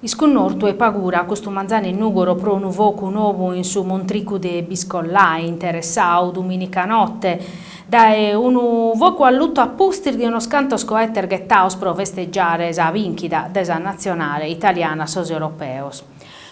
Iscunnortu e pagura custu manzanu in Nùgoro pro unu focu nou in su Montricu de Biscollai, interessau, dumìnica note, dae unu focu allutu a pustis de unos cantos coetes ghetados pro festegiare sa bìnchida de sa natzionale italiana a sos Europeos.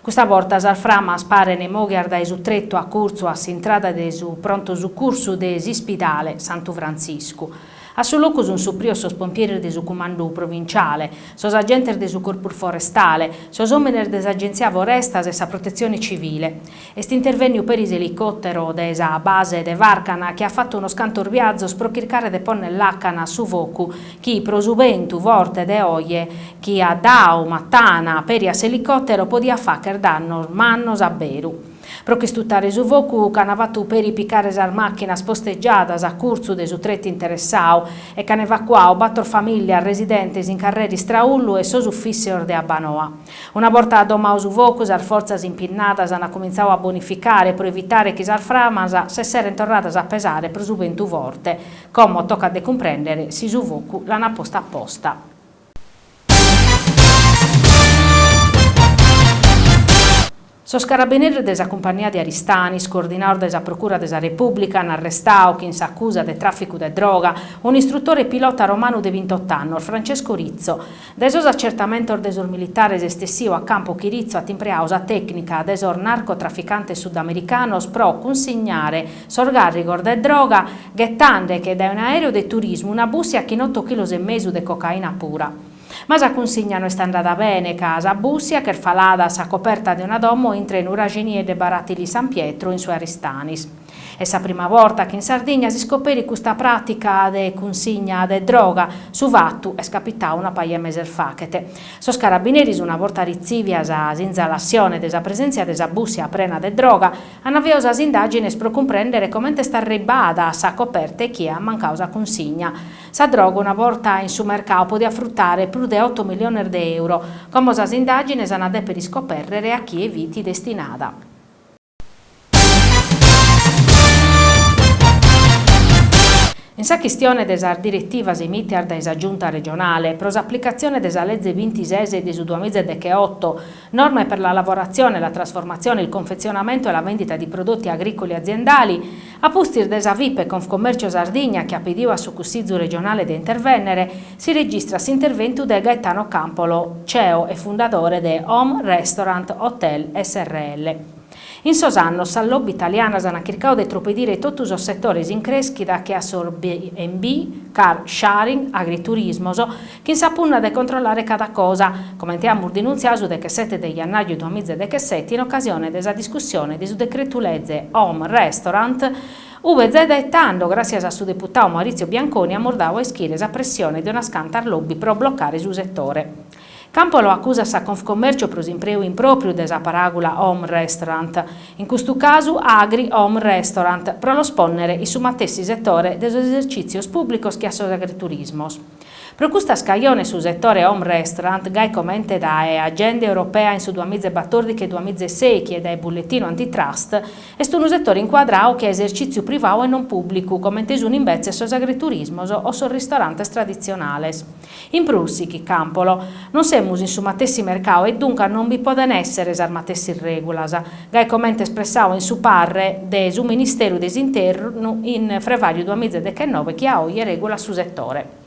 Custa borta sas framas parent mòghias dae su tretu acurtzu a s'intrada de su prontu sucursu de s'Ispidale Santu Frantziscu, A su locu sunt suprios sos pompieres de su Cumandu Provinciale, sos agentes de su Corpus Forestale, sos òmines de s'Agenzia Forestas e sa Protetzione Civile. Est intervènniu peri s'elicòtero de sa base de Fàrcana chi at fatu unos cantos viazos pro chircare de pònnere làcana a su focu chi, pro su bentu forte de oje chi at dau matana peri a s'elicòtero, podiat fàghere dannos mannos a beru. Pro ch'istutare su focu ch'an fatu peri picare sas màchinas postegiadas a curtzu de su tretu interessau e ch'an evacuau bator famìllias residentes in carrera Istraullu e sos ufìssios de Abbanoa. Una borta adomau su focu sas fortzas impinnadas ana cumintzau a bonificare pro evitare chi sas framas s'esserent torradas a pesare pro su bentu forte, como tocat de cumprèndere si su focu l'ana postu aposta. Sos carabineres de sa compagnia de Aristanis, coordinaos dae sa Procura de sa Repùblica, an arrestau, chin s'acusa de tràficu de droga, unu istrutore pilota romanu de bintioto annos, Francesco Rizzo. Dae sos atzertamentos de sos militares est essiu a campu chi Rizzo at impreau sa tècnica de sos narcotraficantes sudamericanos pro cunsignare, Sos càrrigos de droga, ghetande·che dae un'aereu de turismu una bùssia chin oto chilos e mesu de cocaina pura. Ma sa cunsigna no est andada bene ca sa bùssia ch'est falada a sa coperta de una domo intr'e Nuraxinieddu e de Baratili San Pietro, in su Aristanesu. Est sa prima borta chi in Sardigna s'iscoperit custa pràtica de cunsigna de droga, su fatu est capitau una paja 'e meses faghet. Sos carabineris una borta ritzìvias sa sinzalassione de sa presèntzia de sa bùssia prena de droga, An aviau sas indàgines pro cumprèndere comente est arribbada a sa coperta e chie at mancau sa cunsigna. Sa droga una borta in su mercadu podiat frutare prus de oto miliones de euro. Como sas indàgines an a dèpere iscopèrrere a chie fit destinada. In sa chistione de sas diretivas emìtias dae sa Giunta regionale pro s'aplicatzione de sa Leze binti-ses de su duamiza e deche-oto, Norme per la lavorazione, la trasformazione, il confezionamento e la vendita di prodotti agricoli aziendali, a pustis de sa Fipe Confcommercio Sardigna chi at pediu a su Cussizu regionale de intervènnere, si registrat s'interventu de Gaetano Campolo, ceo e fundadore de Home Restaurant Hotel srl. In sos annos sas lobby italianas ant chircadu de tropedire totu sos setores in crèschida che a sos B and B, car sharing, agriturismos, chin sa punna de controllare cada cosa, comente amus denuntziadu su dechesete de jannàriu duamiza e dechesete in ocasione de sa discussione de su decretu-lege Home Restaurant, ue zai dae tando, gràssias a su deputadu Maurizio Bianconi, amus dadu a ischire sa pressione de unas cantas lobby pro blocare su setore. Campolo acusat sa Confcommercio pro s'impreu impròpriu de sa paràgula home restaurant, in custu casu agri home restaurant, pro los pònnere in su matessi setore de sos esercìtzios pùblicos che a sos agriturismos. Pro custas cajones su setore home restaurant, gai comente dae Agenda Europea in su duamìgia e batòrdighi e duamìgia e sèichi e dae Bulletino Antitrust, est unu setore incuadradu che a esercìtziu privadu e non pùblicu, comente sunt imbetzes sos agriturismos o sos ristorantes traditzionales. In prus, sichit Campolo, non semus in su matessi mercau e duncas non bi podent èssere sas matessis règulas, gai comente espressadu in su parre de su Ministeru de s'Internu in frevàriu duamìgia dechenove chi a oje regulat su setore.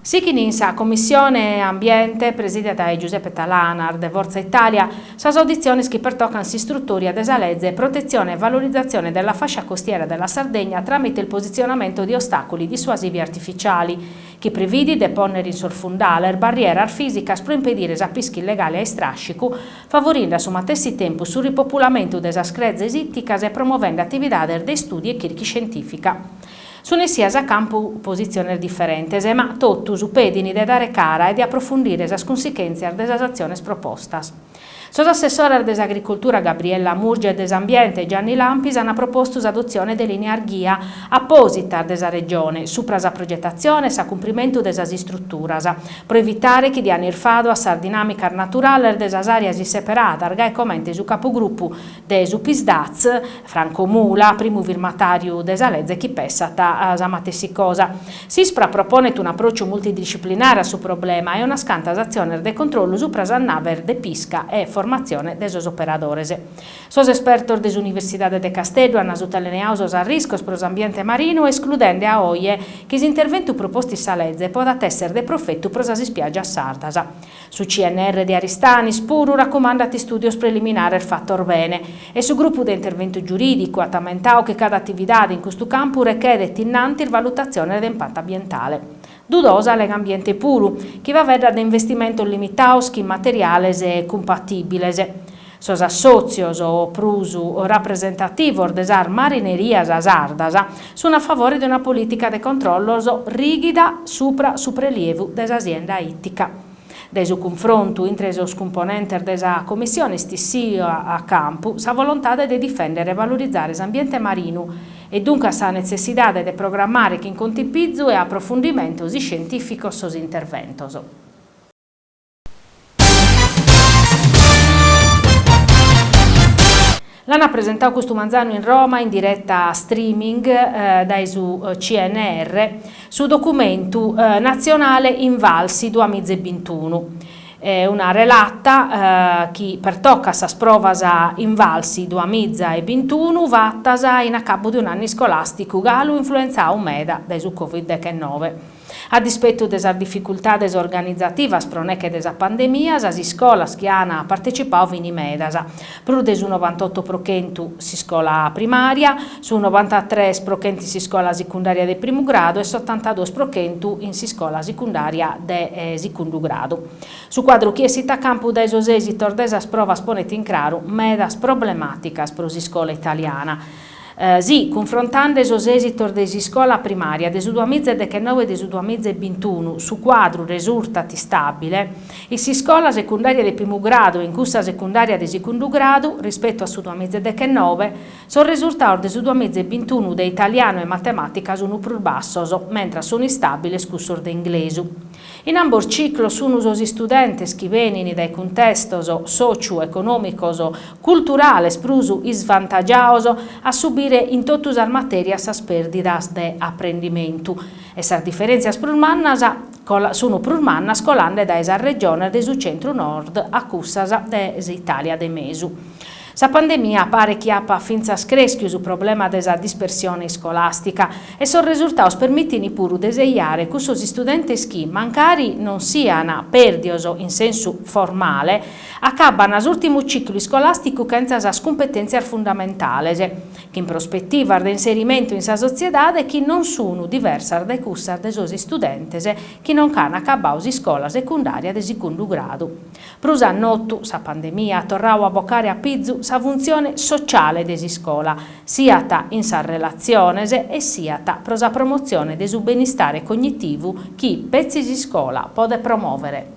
Sichint in sa Commissione Ambiente, presìdia dae Giuseppe Talanas, de Fortza Itàlia, Sas auditziones chi pertocan s'istrutoria de sa Leze Protezione e Valorizzazione della Fascia Costiera della Sardegna tramite il posizionamento di ostacoli dissuasivi artificiali, chi prividit de pònnere in sos fundales barrieras fìsicas pro impedire sa pisca illegale a istràscicu, favorinde a su matessi tempus su ripopulamentu de sas crezes ìticas e promovende atividades de istùdiu e chirca iscientìfica. Sunt essias a campu positziones diferentes, ma totus pedint de dare cara e de aprofundire sas cunsichèntzias de sas atziones propostas. Sos assessores de s'Agricultura Gabriella Murgia e de s'Ambiente Gianni Lampis ant propostu s'adotzione de lìnias ghia apòsitas de sa Regione subra sa progetatzione e s'acumprimentu de sas istruturas pro evitare chi diant irfadu a sas dinàmicas naturales de sas àreas isseperadas gai comente su Capugrupu de su PSd'Az, Franco Mula, primu firmatàriu de sa leze chi pessat sa matessi cosa. S'ISPRA proponet un'apròciu multidisciplinare a su problema e unas cantas atziones de controllu supra sas naves de pisca e formatzione de sos operadores. Sos espertos de s'Universidade de Casteddu ant sutelineadu sos arriscos pro s'ambiente marinu escludende a oje chi s'interventu propostu in sa leze podat èssere de profetu pro sas ispiàgias sardas. Su CNR de Aristanis puru racumandat istùdios preliminares fatos bene. E su grupu de interventu giurìdicu at ammentadu chi cada atividade in custu campu rechedet innantis valutatziones de impatu ambientale. Dudosa Legambiente puru, chi faeddat de investimentos limitados chin materiales ecocumpatìbiles. Sos assòtzios, prus rapresentativos de sas marinerias sardas, sun a favore de una polìtica de controllos rìghida subra su prelievu de sa sienda ìtica. Dae su cunfrontu intre sos cumponentes de sa Commissione est issia a campu sa volontade de difèndere e valorizare s'ambiente marinu e duncas sa netzessidade de programmare chin contipizu e aprofundimentos iscientìficos sos interventos. L'ant presentau custu manzanu in Roma in direta streaming dae su CNR su documentu natzionale Invalsi duas miza e bintunu. Una relata chi pertocat sas provas Invalsi duas miza e bintunu fatas in acabbu de un'annu iscolàsticu galu influentzau meda dae su Covid dechennove. A dispetu de sas dificultades organizativas pro neche de sa pandemia, sas iscolas chi an partecipadu fin medas, prus de su novantotto pro chentu s'iscola primària, su novantatres pro chentu in s'iscola sicundària de primu gradu e s'otantaduos pro chentu in s'iscola sicundària de sicundu gradu. Su cuadru chi essit a campu dae sos èsitos de sas provas ponet in craru medas problemàticas pro s'iscola italiana, Si, cunfrontande sos èsitos de s'iscola primària de su duamiza e dechenove e de su duamiza e bintunu, su cuadru resurtat istàbile, in s'iscola secundària de primu gradu e in cussa secundària de sicundu gradu, rispetu a su duamiza e dechenove, sos resurtados de su duamiza e bintunu de italianu e matemàtica sunt prus bassos, mentras sunt istàbiles cussos de inglesu. In ambos ciclos sun sos istudentes chi benin dae cuntestos sòciu econòmicos culturales prus isvantagiados a subire in totu sas matèrias sas pèrdidas de aprendimentu e sas diferèntzias prus mannas sun prus mannas colande dae sas regiones de su centru-nord a cussas de s'Itàlia de mesu. Sa pandemia paret chi apat fintzas crèschiu su problema de sa dispersione iscolàstica e sos resurtaos permitint puru de seiare cussos istudentes chi, mancari non sian pèrdios in sensu formale, acabbant s'ùrtimu ciclu iscolàsticu chentza sas cumpetèntzias fundamentales, chin prospetivas de inserimentu in sa sotziedade chi non sun diversas dae cussas de sos istudentes chi non ch'an acabbau s'iscola secundària de sicundu gradu. Prus a notu, sa pandemia at torrau a bocare a pizu sa funtzione sociale de s'iscola, siat in sas relatziones e siat pro sa promotzione de su benistare cognitivu chi petzi s'iscola podet promòvere.